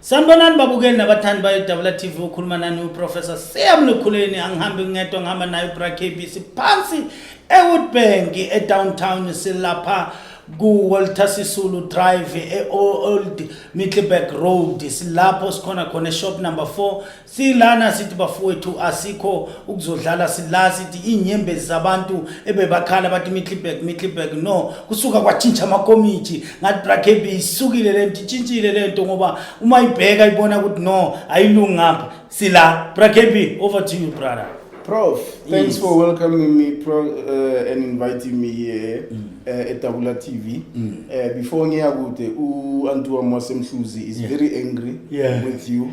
sanibonani babukeli nabathandi bayodabula tv ukhuluma nani uprofessor seyamlukhuleni angihambi ngedwa ngihamba naye ubrakb siphansi ewoodbank edowntown silapha ku-walter sisulu drive e-old middleburg road silapho sikhona khona eshop number four Silana sithi bafowethu asikho ukuzodlala sila sithi inyembezi zabantu ebebakhala bathi Middleburg Middleburg no kusuka kwatshintsha amakomiti ngathi Brakebe isukile lento itshintshile lento ngoba uma ibheka ibona ukuthi no ayilungi ngapha sila Brakebe over to you brother Prof thanks yes. for welcoming me pro, uh, and inviting me here mm. uh, at Tabula TV mm. uh, before ngiya kude u Antua Mwasemhluzi is yeah. very angry yeah. with you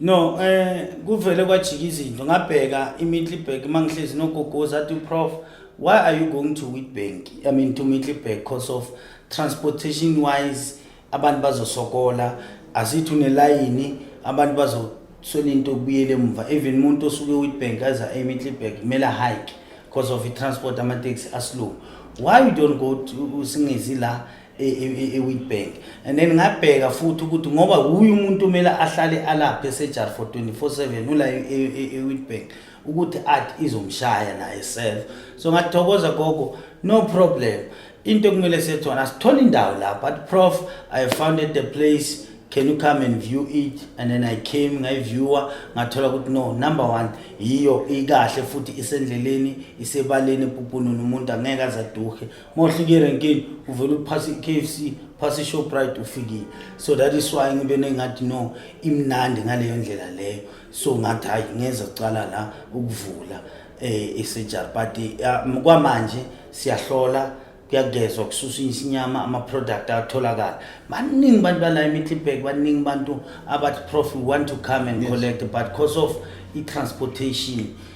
No, eh kuvele kwajika izinto ngabheka iMiddelburg mangihlezi nogogoza athi prof why are you going to Witbank? I mean to Middelburg because of transportation wise abantu bazosokola asithi unelayini abantu bazoswela into kubuyele emuva even umuntu osuke Witbank aza eMiddelburg kumele hike because of i transport ama taxi aslow. Why you don't go to singezi la ewitbank and then ngabheka futhi ukuthi ngoba wuye umuntu kumele ahlale alaphe esejar for 24/7 ula ewitbank ukuthi art izomshaya naye self so ngathokoza gogo no problem into ekumele sethona sithola indawo la but prof i founded the place can you come and view it and then i came ngayiviewa ngathola ukuthi no number one yiyo ikahle futhi isendleleni isebaleni pupununu umuntu angeke azaduhe mawuhlike erenkini uvele uphase i-k f c phase ishoprite ufikile so that is why ngibe nengathi no imnandi ngaleyo ndlela leyo so ngathi hhayi ngeza kucala la ukuvula um eh, isejar but um, kwamanje siyahlola kuyagezwa kususa isinyama ama-product atholakala baningi bantu bala emitlibek baningi bantu abathi prof we want to come and yes. collect but because of i-transportation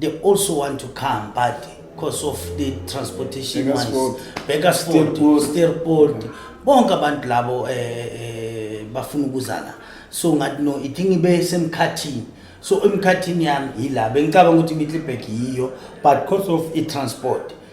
they also want to come but because of the transportation wise Bakersford Steerport bonke abantu labo um bafuna ukuza la so ngathi no ithi ngibe semkhathini so emkhathini yami yila bengicabanga ukuthi imitlibek yiyo but because of i-transport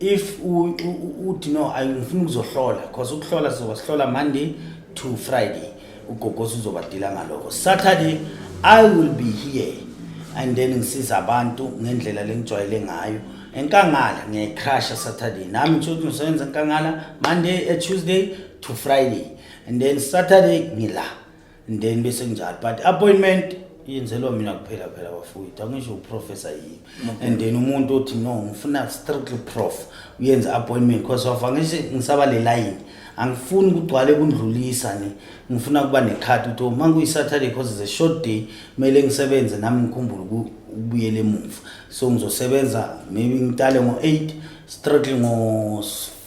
if uthi no ngifuna ukuzohlola because ukuhlola sizoba sihlola monday to friday ugogosi uzobadila ngaloko saturday i will be here and then ngisiza abantu ngendlela lengijwayele ngayo enkangala ngiyayicrusha saturday nami ngisho ukuthi ngisebenza enkangala monday eh, tuesday to friday and then saturday ngila ndeni bese kunjalo but appointment yenzelwa mina kuphela phela bafowethu angisho uprofessor yini and then umuntu othi no ngifuna strictly prof uyenza appointment because of angishe ngisaba le line angifuni kugcwale kundlulisa ne ngifuna kuba nekhathi ukuthi uma kuyisaturday because it's a short day kumele ngisebenze nami ngikhumbule ukubuyela emuva so ngizosebenza maybe ngitale ngo-eight strictly ngo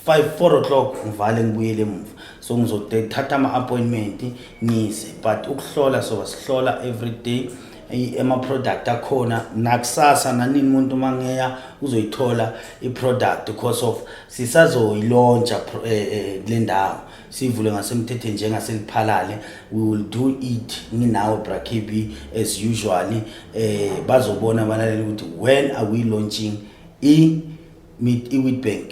5 4 o'clock ngivale ngibuyele emuva so ngizothatha ama appointment ngise but ukuhlola so sihlola every day ema product akhona nakusasa nanini umuntu mangeya uzoyithola i product because of sisazoyilontsha eh, eh, kule ndawo sivule ngasemthethweni njengaseliphalale we will do it nginawo brakb as usually eh bazobona abalaleli ukuthi when are we launching i Meet iWitbank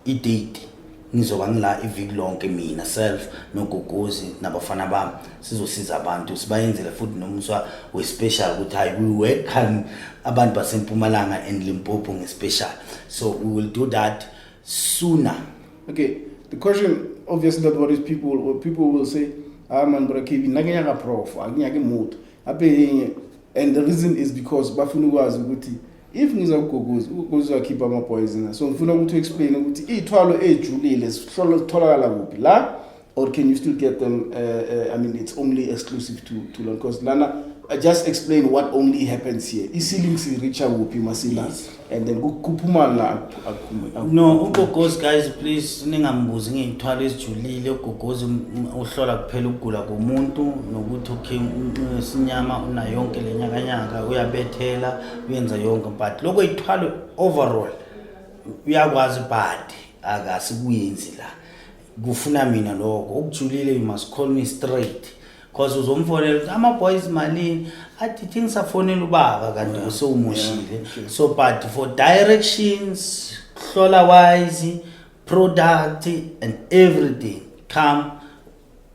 idate ngizoba ngila iviki lonke mina self nogogozi nabafana bami sizosiza abantu sibayenzele futhi nomuswa wespecial ukuthi hayi we welcome abantu basempumalanga and limpopo ngespecial so we will do that sooner okay the question obviously that what is people what people will say ah man bra kb nakenyaka prof akinyake mood ape and the reason is because bafuna ukwazi ukuthi if ngiza kuguguza ukuguguza khipha ama boys na so ngifuna ukuthi explain ukuthi ithwalo ejulile sihlolo sitholakala kuphi la or can you still get them uh, uh, i mean it's only exclusive to to lon because lana I just explain what only happens here isiling si reacha kuphi masila and then kuphuma la akuphume no ugogozi guys please ningambuzi ngeyithwalo ezijulile ugogozi uhlola kuphela ukugula komuntu nokuthi okay sinyama unayonke lenyakanyaka uyabethela uyenza yonke but lokho ithwalo overall uyakwazi but akasikuyenzi la kufuna mina lokho ukujulile you must call me straight cause uzomfonela ukuthi ama-boys malini athi thi ngisafonela ubaba kanti usewumushile so but for directions hlola wise product and everything come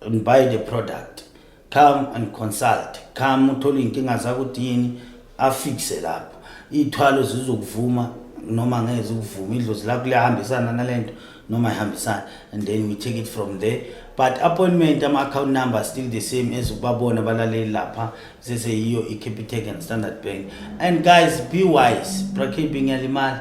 and buy the product come and consult come uthole iy'nkinga zakho ukuthi yini afikise lapho iy'thwalo zizokuvuma noma ngeke zikuvuma idlozi lakho liyahambisana nale nto noma ihambisana and then we take it from there but appointment ama-account number still the same as ukubabona balaleli lapha seseyiyo i-capitec and standard bank and guys be wise brakebing yalimali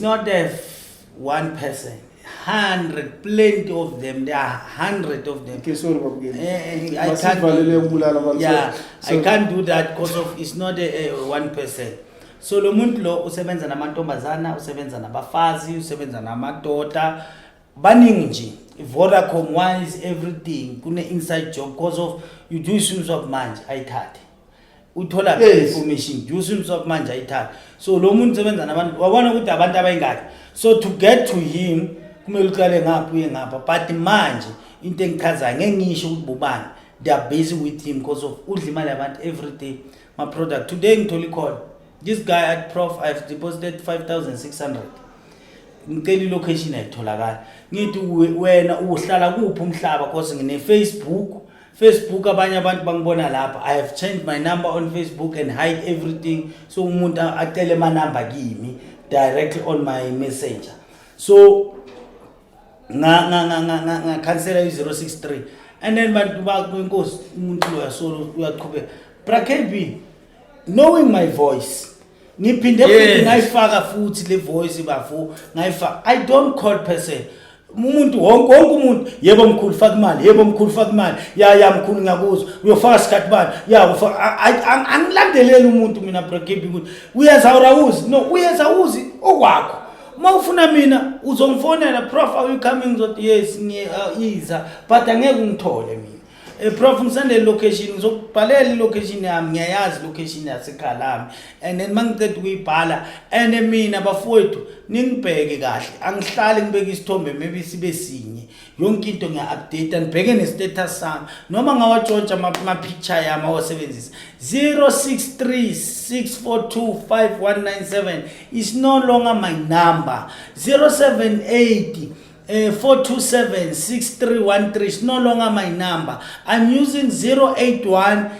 It's not a one person. 100 plenty of them there are 100 of them okay sorry babukeli eh, eh, i can't valele ukubulala abantu yeah so, i can't do that because of it's not a, a one person so lo muntu lo usebenza namantombazana usebenza nabafazi usebenza namadoda baningi nje Vodacom wise everything kune inside job because of you do isimo sokumanje ayithathe uthola yes. information do you seem so manje ayithatha so lo muntu sebenza nabantu wabona ukuthi abantu abayingaki so to get to him kumele uqale ngapha uye ngapha but manje into engichazayo ngeke ngisho ukuthi bobani they are busy with him because of udla imali yabantu every day my product today ngithole icall this guy at prof i've deposited 5600 ngicela ilocation ayitholakala ngithi wena uhlala kuphi umhlaba cause ngine-facebook Facebook abanye abantu bangibona lapha I have changed my number on Facebook and hide everything so umuntu acele ama number kimi directly on my messenger so nga nga nga nga nga, nga cancel i 063 and then bantu ba kwenkosi umuntu lo yasolo uyaqhubeka bra KB knowing my voice ngiphinde futhi Yes. ngayifaka futhi le voice bafo ngayifaka i don't call person umuntu wonke wonke umuntu yebo mkhulu faka imali yebo mkhulu faka imali ya ya mkhulu ngiyakuzwa uyofaka sikhathi bani ya ufa- a- a- a- angilandeleli umuntu mina brokebe ukuthi uyenza urawuzi no uyenza uzi okwakho uma ufuna mina uzongifonela prof are you coming ngizothi yes ngiyiza but angeke ungithole mina Eh, prof ngisandele location ngizokubhalela ilocation yami ngiyayazi location yasekhaya lami and then mangiceda ukuyibhala and mina bafowethu ningibheke kahle angihlali ngibeke isithombe maybe sibe sinye yonke into ngiya-update ngibheke ne-status sami noma ngawatshontsha ama-picture yami awasebenzisa 063 642 5197 is no longer my number 078 eh 4276313 is no longer my number i'm using 081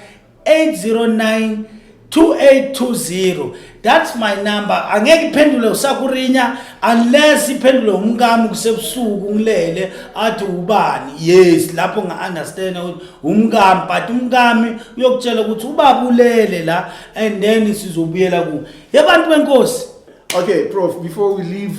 809 2820 that's my number angeke iphendule usakurinya unless iphendule umkami kusebusuku ngilele athi ubani yes lapho nga understand ukuthi umkami but umkami uyokutshela ukuthi ubaba ulele la and then sizobuyela ku yabantu benkosi okay prof before we leave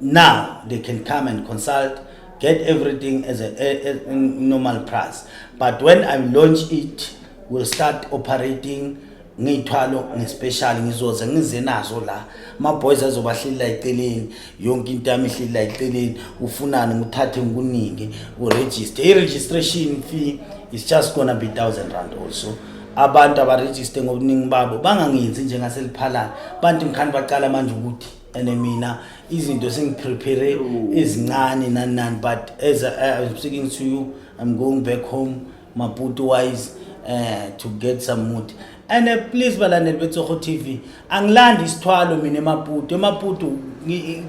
now they can come and consult get everything as a, a, a normal price but when i launch it will start operating ngiyithwalo ngespecial ngizoze ngize nazo la ma boys azobahlila eceleni yonke into yami ihlila eceleni ufunani nguthathe ngikuningi uregister i registration fee is just gonna be 1000 rand also abantu abarejiste ngobuningi babo bangangenzi njengaseliphalana bantu ngikhani baqala manje ukuthi and mina izinto sengiprepare ezincane nani nani but as I, I'm speaking to you I'm going back home Maputo wise uh, to get some mood and uh, please balandeli betsogo TV angilandi isithwalo mina emaputu emaputu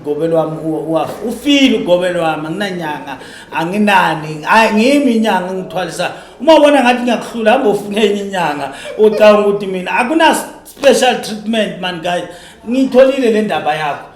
ugobe lwami uwafa ufile ugobe lwami anginanyanga anginani ngimi inyanga ngithwalisa uma ubona ngathi ngiyakuhlula hamba ufune enye inyanga ucabanga ukuthi mina akuna special treatment man guys ngiyitholile le ndaba yakho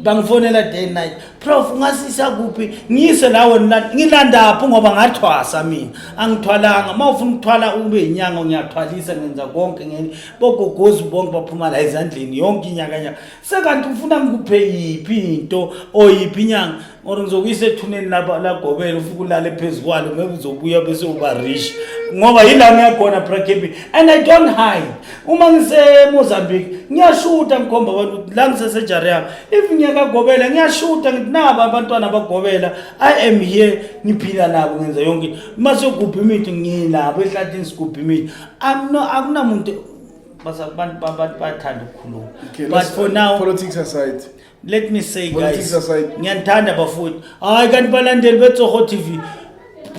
bangifonela day night prof ungasisa kuphi ngiyise lawo ngilandaphi ngoba ngathwasa mina angithwalanga uma ufuna ukuthwala ube yinyanga ngiyathwalisa ngenza konke ngeni bogogozi bonke baphuma la ezandleni yonke inyakanyaka sekanti ufuna ngikuphe yiphi into or yiphi inyanga or ngizokuyisa ethuneni lapha lagobela ufuke ulale phezu kwalo maybe uzobuya bese uba rich ngoba yila ngiyakhona brakebi and i don't hide uma ngisemozambique ngiyashuta ngikhomba abantu ukuthi la ngisesejari yami if ngiyakagobela ngiyashuta ngithi nabo abantwana bagobela i am here ngiphila nabo ngenza yonke uma siyogubha imithi nginabo ehlathini sigubha imithi akunamuntu bathanda ukukhuluma but for now politics aside let me say Politics guys aside. ngiyanithanda bafowethu hayi kanti balandeli betsoho tv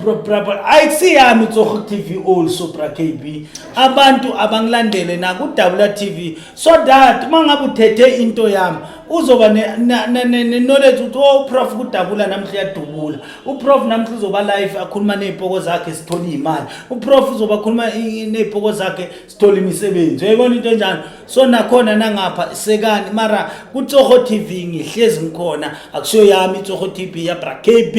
Bro, bra- bra- ayi kusiyami tsoho tv also bra kb abantu abangilandele nakudabula tv so that uma ngabe uthethe into yami uzoba ne- na- na- ne- ne-knowledge ukuthi o uprof kudabula namhla uyadubula uprof namhla uzoba life akhuluma ney'poko zakhe sithole iy'mali uprof uzoba khuluma i- i- ney'poko zakhe sithola imisebenzi uyayibona into enjalo so nakhona nangapha sekani mara kutsoho tv ngihlezi ngikhona akusiyo yami itsoho tv yabra kb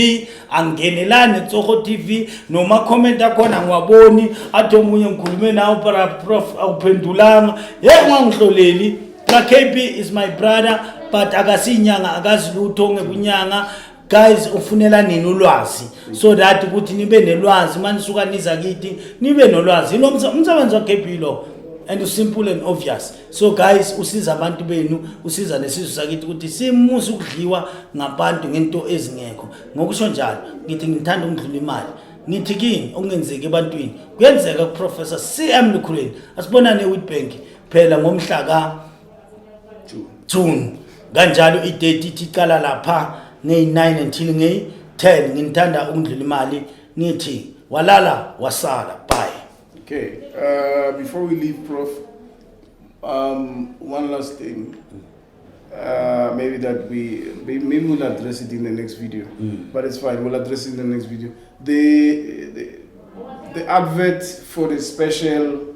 angenelani itsoho tv noma comment akhona ngiwaboni athi omunye ngikhulume nawo para prof awuphendulanga ye ungangihloleli bra kb is my brother but akasiyinyanga akazi lutho ngekunyanga guys ufunela nini ulwazi so that ukuthi nibe nelwazi uma nisuka niza kithi nibe nolwazi ilo umsebenzi wagebhilo and usimple and obvious so guys usiza abantu benu usiza nesizwe sakithi ukuthi simusa ukudliwa ngabantu ngento ezingekho ngokusho njalo ngithi ngithanda ukudlula imali ngithi kini okungenzeki ebantwini kuyenzeka kuprofessor cm lukhuleni asibonane ewitbank phela ngomhla ka June kanjalo i-date ithi iqala lapha ngeyi-9 until ngeyi-10 nginithanda ukundlula imali ngithi walala wasala bye okay uh, before we leave prof um, one last thing uh, maybe that we maybe we'll address it in the next video mm. but it's fine we'll address it in the next video the, the, the advert for the special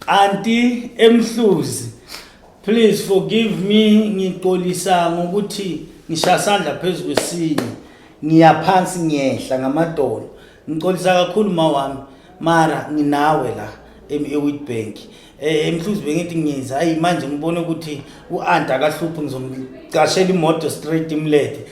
Kanti emhluzi please forgive me ngixolisa ngokuthi ngisha sandla phezulu kwesinye ngiyaphansi ngiyehla ngamadolo ngixolisa kakhulu ma wami mara nginawe la eWitbank eh, emhluzi bengithi ngiza ayi manje ngibone ukuthi u-anta akahluphi ngizomcashela imoto straight imlethe